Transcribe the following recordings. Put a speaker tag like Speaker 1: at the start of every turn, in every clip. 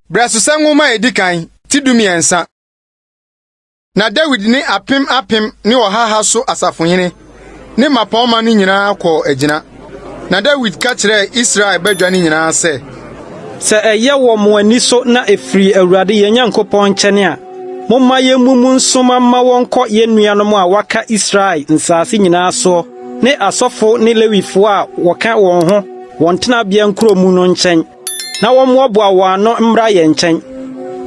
Speaker 1: Brɛsosɛ nwoma a edi kan ti dumiɛnsa. Na Dawid ne apem apem ne ɔhaha so asafohene ne mmapɔmma no nyinaa kɔɔ agyina. Na Dawid ka kyerɛɛ Israel badwa no nyinaa sɛ. Sɛ ɛyɛ
Speaker 2: wɔ mo ani so na ɛfiri Awurade yɛn Nyankopɔn nkyɛn a, momma yɛmmumu nsoma mma wɔnkɔ yɛn nuanom a wɔaka Israel nsase nyinaa soɔ ne asɔfo ne Lewifoɔ a wɔka wɔn ho wɔn tenabea nkuro mu no nkyɛn, na wɔmmoaboa wɔn ano mmra yɛn nkyɛn.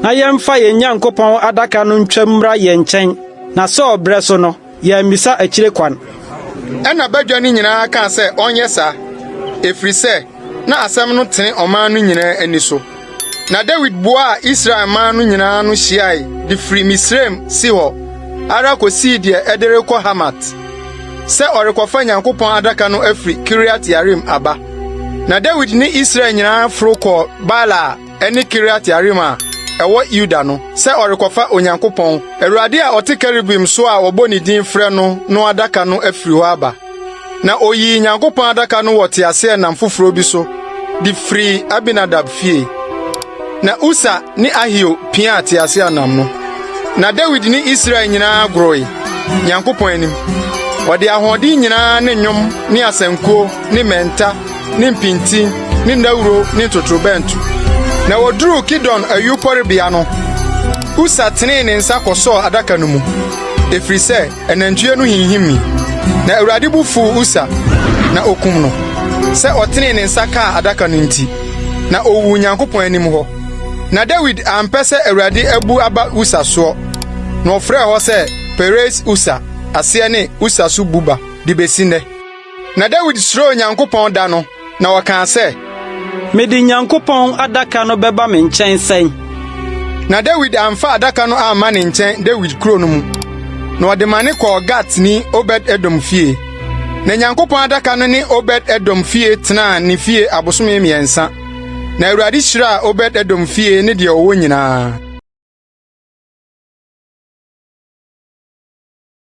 Speaker 2: Na yɛmfa yɛn Nyankopɔn Adaka no ntwam mmra yɛn nkyɛn, na Saul berɛ so no, Yɛammisa akyire kwan. Ɛnna
Speaker 1: badwa no nyinaa kaa sɛ ɔnyɛ saa, ɛfiri sɛ na asɛm no tene ɔman no nyinaa ani so. Na Dawid boaa Israel man no nyinaa ano hyiae de firi Misraim Sihor ara kɔsii deɛ ɛde rekɔ Hamat sɛ ɔrekɔfa Nyankopɔn Adaka no afiri Kiriat-Yearim aba. Na Dawid ne Israel nyinaa foro kɔɔ Baala a ne Kiriat-Yearim a ɛwɔ Yuda no sɛ ɔrekɔfa Onyankopɔn, Awurade a ɔte kerubim so a wɔbɔ ne din frɛ no no adaka no afiri hɔ aba. Na oyii Nyankopɔn adaka no wɔ teaseɛnam foforo bi so de firii Abinadab fie. Na Usa ne Ahio piaa teaseɛnam no. Na Dawid ne Israel nyinaa goroe Nyankopɔn anim. Ɔde ahoɔden nyinaa ne nnwom ne asankuo ne mmɛnta ne mpinti ne nnawuro ne ntotorobɛnto. Na wɔduruu Kidon ayuporobea no, Usa tenee ne nsa kɔsɔɔ adaka no mu, ɛfiri sɛ anantwie no hinhimii. Na Awurade bo fuu Usa, na ɔkum no, sɛ ɔtenee ne nsa kaa adaka no nti, na ɔwuu Onyankopɔn anim hɔ. Na Dawid ampɛ sɛ Awurade abu aba Usa soɔ, na ɔfrɛɛ hɔ sɛ Peres-Usa, aseɛ ne Usa so bu ba, de bɛsi nnɛ. Na Dawid suroo Onyankopɔn da no, na ɔkaa sɛ. Mede
Speaker 2: Nyankopɔn Adaka no bɛba me nkyɛn sɛn? Na
Speaker 1: Dawid amfa Adaka no amma ne nkyɛn Dawid kuro no mu, na ɔde ma ne kɔɔ Gatni Obed-Edom fie. Na Nyankopɔn Adaka no ne Obed-Edom fie tenaa ne fie abosome mmiɛnsa. Na Awurade hyiraa Obed-Edom fie ne deɛ ɔwɔ nyinaa.